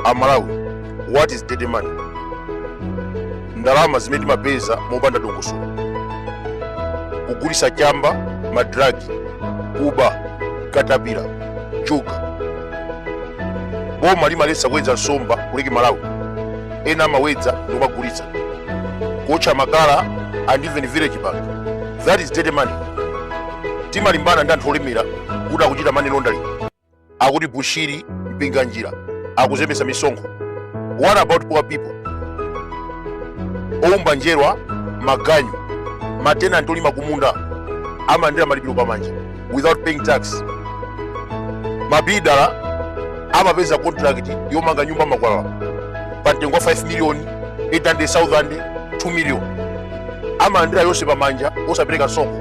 amalawi what is dirty money ndalama zimene timapeza mopanda dongosolo kugulitsa chamba madragi kuba katapira juga boma limaletsa kuwedza nsomba ku lake malawi ena amawedza ndikumagulitsa kuotcha makala and even village bank that is dirty money timalimbana ndi anthu olemera kuti akuchita money laundering akuti bushiri mpinganjira akuzembesa misonkho what about poor people oumba njerwa maganyu matenanti olima kumunda amalandira malipiro pamanja without paying tax mabiluda amapeza contract yomanga nyumba amakwalala pa mtengo wa 5 million 800,000 2 million amalandira yonse pamanja osapereka msonkho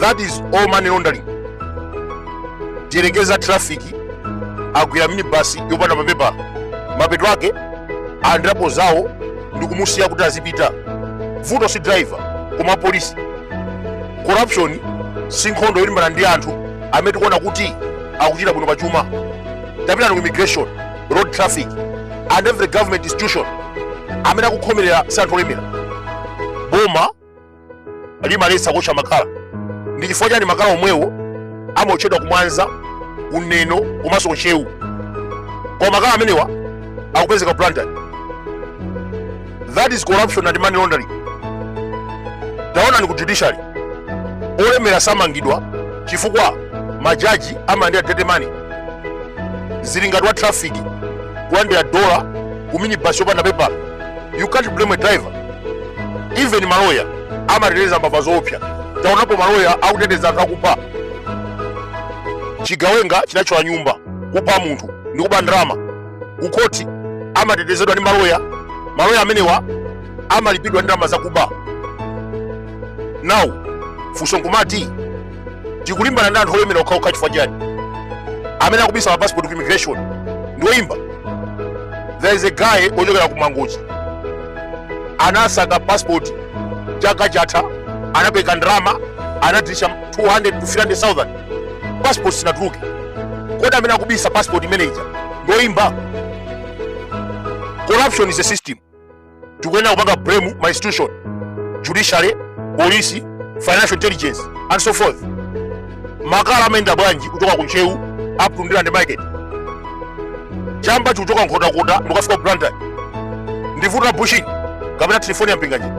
that is all money laundering tiyerekeza traffic agwira minibus yopanda mapepala mapeto ake alandirapo zawo ndikumusiya kuti azipita vuto si driver koma polisi corruption si nkhondo yolimbana ndi anthu amene tikuona kuti akuchita bwino pachuma tapitani ku immigration road traffic and every government institution amene akukhomerera si anthu olemera boma limaletsa kuotcha makala ndi chifukwa chani makala omwewo amaotchedwa kumwanza kuneno komanso kuntcheu koma makala amenewa akupezeka ku blantyre that is corruption and money laundering taonani ku judiciary olemera samangidwa chifukwa majaji amalandira dirty money zili ngati wa traffic kulandira dola ku minibus yopanda pepala you can't blame a driver even maloya amateteza mbava zoopsa taonapo maloya akuteteza anthu akupha chigawenga chinathyola nyumba kupha munthu ndi kuba ndalama kukhoti amatetezedwa ndi maloya maloya amenewa amalipidwa ndi ndalama zakuba now funso nkumati tikulimbana ndi anthu olemera okhaokha chifukwa chani amene akubisa ma passport ku immigration ndi oyimba there is a guy ochokera ku mangochi anasaka passport chaka chatha anapereka ndalama anadilitsa 200 to 300000 passport sinatuluke kodi amene akubisa passport imene ije ndi oyimba corruption is a system tikuyenera kupanga blame ma institution judiciary police financial intelligence and so forth makala amayenda bwanji kuchoka ku ntcheu up to ndilande market chamba chikuchoka nkhotakota ndikafika ku blantyre ndi vuto Bushiri kapena telefoni ya Mpinganjira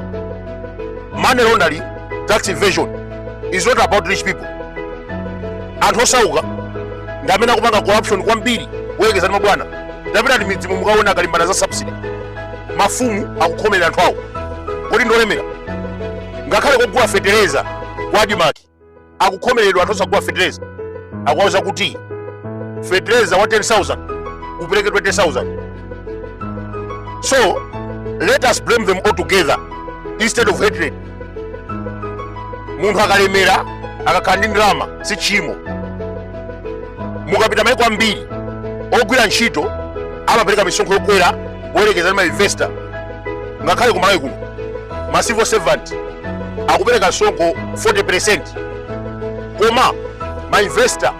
money laundering tax evasion is not about rich people anthu osauka ndi amene akupanga corruption kwambiri kuyerekeza ndi mabwana tapitani m'midzimu mukaona akalimbana za subsidy mafumu akukhomerera anthu awo kodi ndolemera ngakhale kogulira fetereza kwa ADMARC akukhomeredwa anthu osagula fetereza akuwauza kuti fetereza wa 10000 upereke 20000 so let us blame them all together instead of hatred munthu akalemera akakhala ndi ndalama si tchimo mukapita maiko ambiri ogwira ntchito amapereka misonkho yokwera kuyerekeza ndi mainvesta ngakhale kumalawi kuno ma civil servant akupereka msonkho 40 percent koma mainvesta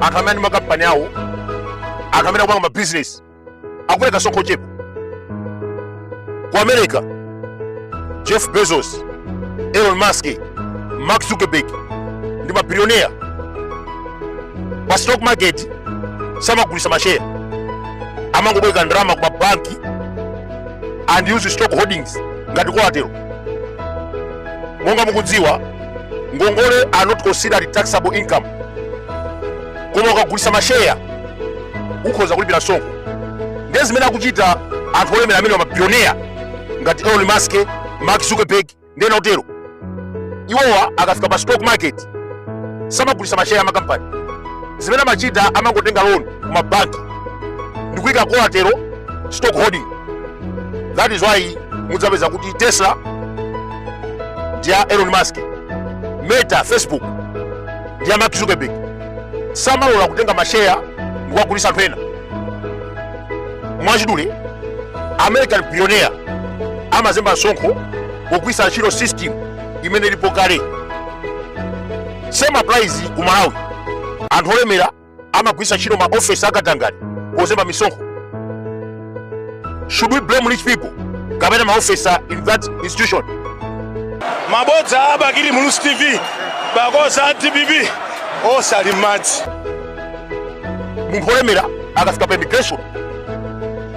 anthu amene ali ndi makampani awo anthu amene akupanga mabizinesi akupereka msonkho ochepa ku america jeff bezos elon musk mark zuckerberg ndi mabilionea pa stock market samagulisa masheya amangobwereka ndalama ku mabanki and use stock holdings ngati kolatero monga mukudziwa ngongole are not considered taxable income koma ukagulisa masheya ukhoza kulipira msonkho ndiye zimene akuchita anthu olemera amene mabilionea ngati elon musk mark zuckerberg ndi ena otero iwowa akafika pa stock market samagulisa masheya amakampani zimene amachita amangotenga loan ku mabanki ndi kuyika kolatero stock holding that is why mudzapeza kuti tesla ndi ya elon musk meta facebook ndi ya mark zuckerberg samalola kutenga masheya ndikuwagulisa anthu ena mwachidule american billionaire amazemba msonkho pogwiritsa ntchito system imene ilipo kale same applies ku malawi anthu olemera amagwiritsa ntchito maofesi akatangale pozemba misonkho should we blame rich people kapena maofesa in that institution mabodza a bakili muluzi tv pakozi a dpp osali madzi munthu wolemera akafika pa immigration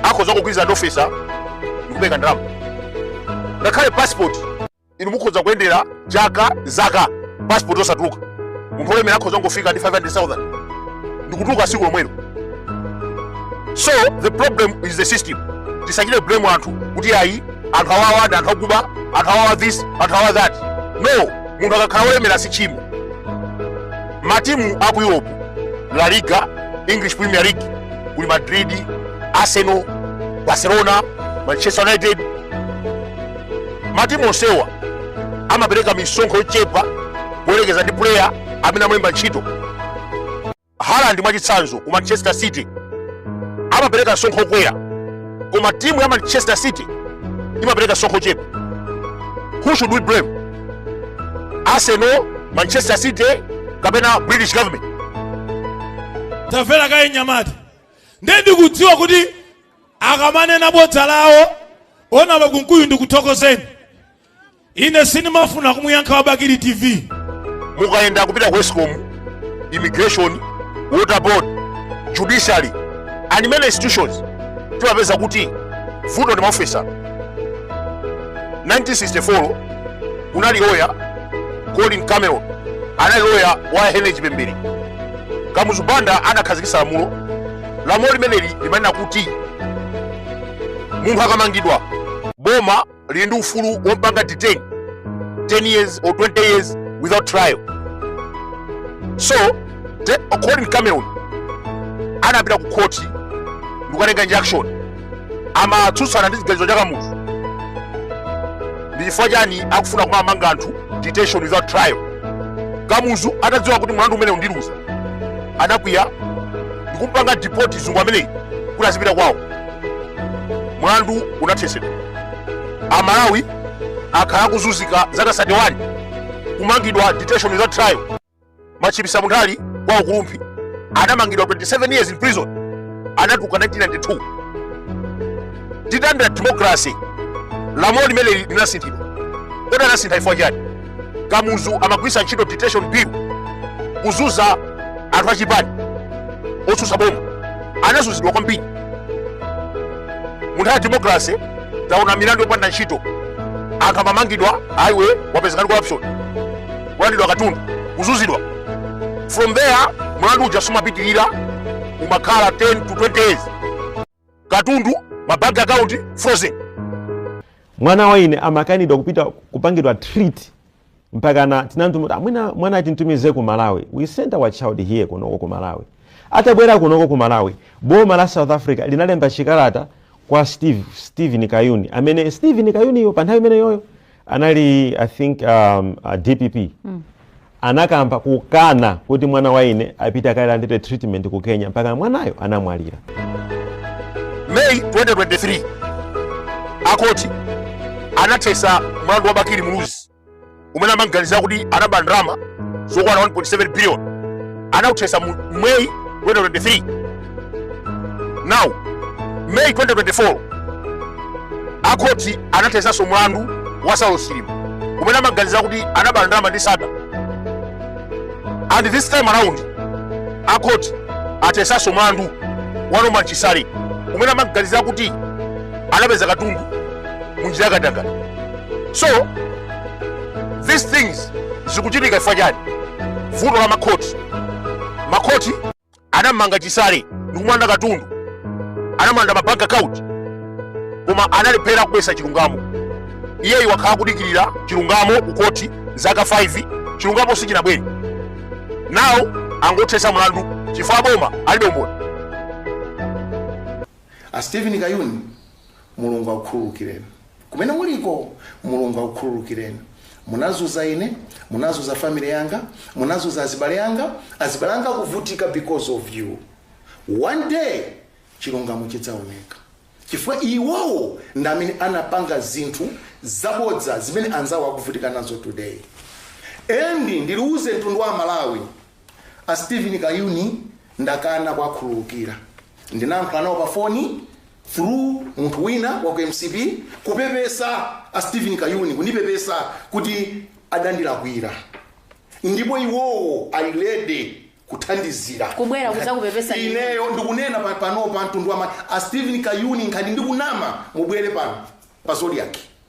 akhoza kugwirizana ndi ofesa ndikupereka ndalama ngakhale passport inu mukhoza kuyendera chaka zaka passport osatuluka munthu olemera akhoza kungofika ndi 500000 ndikutuluka siku lomwelo so the problem is the system tisachite blame anthu kuti ayi anthu awawa ndi anthu akuba anthu awawa this anthu awawa that no munthu akakhala wolemera si chimo matimu aku europe la liga english premier league kuli madrid arsenal barcelona manchester united matimu onsewa amapereka misonkho yochepa kuyerekeza ndi player amene amulemba ntchito Haaland mwachitsanzo ku Manchester City amapereka msonkho wokwera koma timu ya Manchester City imapereka msonkho wochepa who should we blame Arsenal Manchester City kapena British government tamvera kaye nyamata ndiye ndikudziwa kuti akamanena bodza la wona bakunkuyu ndikuthokozeni ine sinimafuna kumuyankha wa bakili tv mukayenda kupita ku escom immigration water board judiciary and many institutions timapeza kuti vuto ndi maofisa 1964 kunali loya colin cameron anali loya wa henry chipembere kamuzu banda anakhazikitsa lamulo lamulo limeneli limanena kuti munthu akamangidwa boma lili ndi ufulu wompanga detain 10 years or 20 years without trial so Colin Cameron anapita ku khoti ndikukatenga injunction amatsutsana ndi chiganizo cha kamuzu ndi chifukwa chani akufuna kumamanga anthu detention without trial kamuzu atadziwa kuti mlandu umenewu ndiluza anakwiya ndikumpanga deport mzungu ameneyi kuti azipita kwawo mlandu unathetsedwa amalawi akhala akuzunzika zaka 31 kumangidwa detention without trial Machipisa Munthali kwa Chikulamayembe anamangidwa 27 years in prison, anatuluka 1992. Titalandira democracy lamulo limene linasinthidwa, kodi anasintha chifukwa chani? Kamuzu amagwiritsa ntchito detention bill kuzunza anthu achipani otsutsa boma, anazunzidwa kwambiri. Munthawi ya democracy taona milandu yopanda ntchito, anthu amamangidwa ayi iwe wapezeka ndi corruption kulandidwa katundu kuzunzidwa from there mlandu uja sumapitirira umakhala 10 to 20 years katundu ma bank account frozen mwana wa ine amakanidwa kupita kupangidwa treat mpakana tinantumira amwina mwana atintumize ku malawi we sent our child here kunoko ku malawi atabwera kunoko ku malawi boma la south africa linalemba chikalata kwa steve steven kayuni amene steven kayuniyo pa nthawi imeneyoyo anali i think um, uh, dpp mm. anakamba kukana kuti mwana wa ine apite akalandire treatment ku kenya mpaka mwanayo anamwalira may 2023 akhoti anathesa mlandu wa bakili muluzi umene amamuganizira kuti anaba ndalama zokwana 1.7 billion anauthesa mu may 2023 now may 2024 akhoti anathesanso mlandu wa saulos chilima umene amamuganizira kuti anaba ndalama ndi sattar and this time around akhoti athesanso mlandu wa norman chisale umene amamuganizira kuti anapeza katundu munjira yakatangale so these things zikuchitika chifukwa chani vuto la makhoti makhoti anamumanga chisale ndikumulanda katundu anamulanda mabank account koma analephera kubwesa chilungamo iyeyi wakhala kudikirira chilungamo kukhoti zaka 5 chilungamo sichinabwere now angothesa mlandu chifukwa aboma alibe umboni a stephen kayuni Mulungu akukhululukireni. Kumene muliko, Mulungu akukhululukireni. Munazuza ine, munazuza family yanga, munazuza azibale anga, azibale anga akuvutika because of you. One day, chilungamo chidzaoneka. Chifukwa iwowo ndi amene anapanga zinthu zabodza zimene anzawo akuvutika nazo today. And ndiliuze mtundu wa Amalawi, a Stephen Kayuni ndakana kuwakhululukira. Ndinayankhula nawo pa foni, through munthu wina wa ku mcp kupepesa a stephen kayuni kundipepesa kuti adandilakwira ndipo iwowo ali ready kuthandizira Kubwera kudzakupepesa ineyo ndikunena pa- panopa mtundu wama a stephen kayuni ngati ndikunama mubwere pano pa zodiak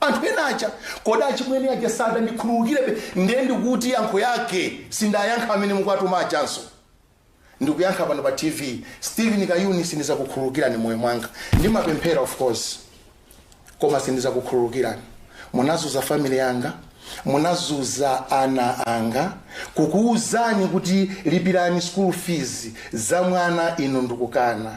Anthu ena aja, kodi achimwene aja sadandikhululukirebe? Nde ndikuti yankho yake sindayankha amene mukuwatuma ajanso ndikuyankha pano pa TV. Stephen Kayuni sindizakukhululukirani moyo mwanga. Ndimapemphera of course koma sindizakukhululukirani. Munazuza family yanga, munazuza ana anga, kukuuzani kuti lipirani school fees za mwana inu ndikukana.